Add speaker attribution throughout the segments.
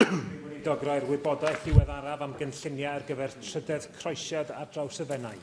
Speaker 1: Rwy'n Weinidog roi'r wybodaeth ddiweddaraf am gynlluniau ar gyfer trydedd croesiad ar draws y Fenai.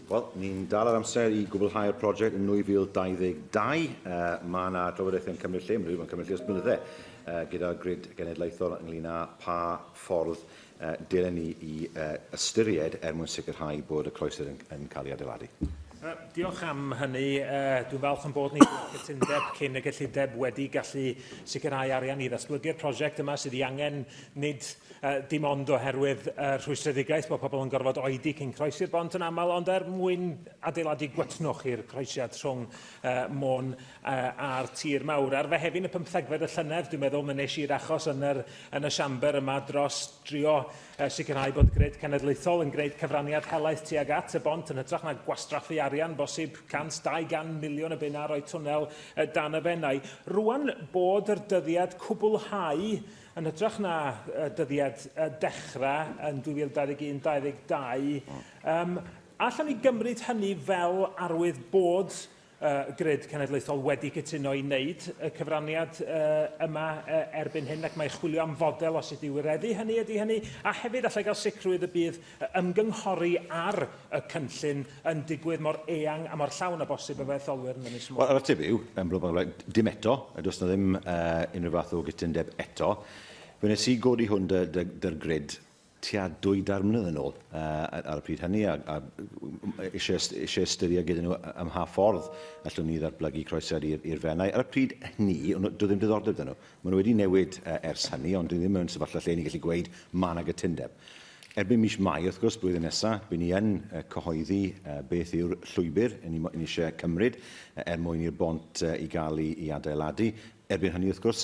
Speaker 1: Wel, ni'n dal ar amser i gwblhau'r prosiect yn 2022. Uh, mae yna drafodaethau yn cymryd lle, mae'n rhywbeth yn cymryd lle os blynyddau, uh, gyda'r grid genedlaethol ynglyn â pa ffordd uh, dylen ni i uh, ystyried er mwyn sicrhau bod y croesedd yn, yn cael ei adeiladu. Uh, diolch am hynny. Uh, dwi'n falch yn bod ni wedi cytundeb cyn y gyllideb wedi gallu sicrhau arian i ddatblygu'r prosiect yma sydd i angen nid uh, dim ond oherwydd uh, rhwystredigaeth bod pobl yn gorfod oedi cyn croesi'r bont yn aml, ond er mwyn adeiladu gwetnwch i'r croesiad rhwng uh, Môn uh, a'r tir mawr. Ar fehefin y pymthegfed y llynedd, dwi'n meddwl, mae nes i'r achos yn, yr, yn y siamber yma dros drio a sicrhau bod grid cenedlaethol yn gwneud cyfraniad helaeth tuag at y bont yn hytrach na gwastraffu arian bosib 100-200 miliwn y bunna a rhoi twnnel dan y Fenai. Rŵan bod yr dyddiad cwblhau yn hytrach na dyddiad dechrau yn 2021-22, allan ni gymryd hynny fel arwydd bod y Grid Cenedlaethol wedi cytuno i wneud y cyfraniad yma erbyn hyn ac mae chwilio am fodel os ydy wireddu hynny ydy hynny a hefyd allai gael sicrwydd y bydd ymgynghori ar y cynllun yn digwydd mor eang a mor llawn a bosib efo etholwyr yn Ynys Môn. Wel, yr ateb yw, yn blwm, dim eto, a does na ddim uh, unrhyw fath o gytundeb eto. Fe wnes i godi hwn dy'r grid tua dwy dair mlynedd yn ôl ar y pryd hynny, a eisiau ystyried gyda nhw ym mha ffordd allwn ni ddatblygu croesed i'r Fenai. Ar y pryd hynny, doedd ddim diddordeb dyn nhw. Maen nhw wedi newid ers hynny, ond dyn ni ddim mewn sefyllfa lle ni'n gallu gweud mae yna gytundeb. Erbyn mis Mai, wrth gwrs, blwyddyn nesaf, bydd ni yn cyhoeddi beth yw'r llwybr yn ni eisiau cymryd er mwyn i'r bont i gael ei adeiladu. Erbyn hynny, wrth gwrs,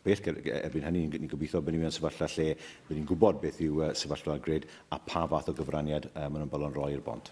Speaker 1: bell erbyn hynny. Ni'n gobeithio bod ni mewn sefyllfa lle bod ni'n gwybod beth yw sefyllfa'r grid a pa fath o gyfraniad maen nhw'n balon roi i'r bont.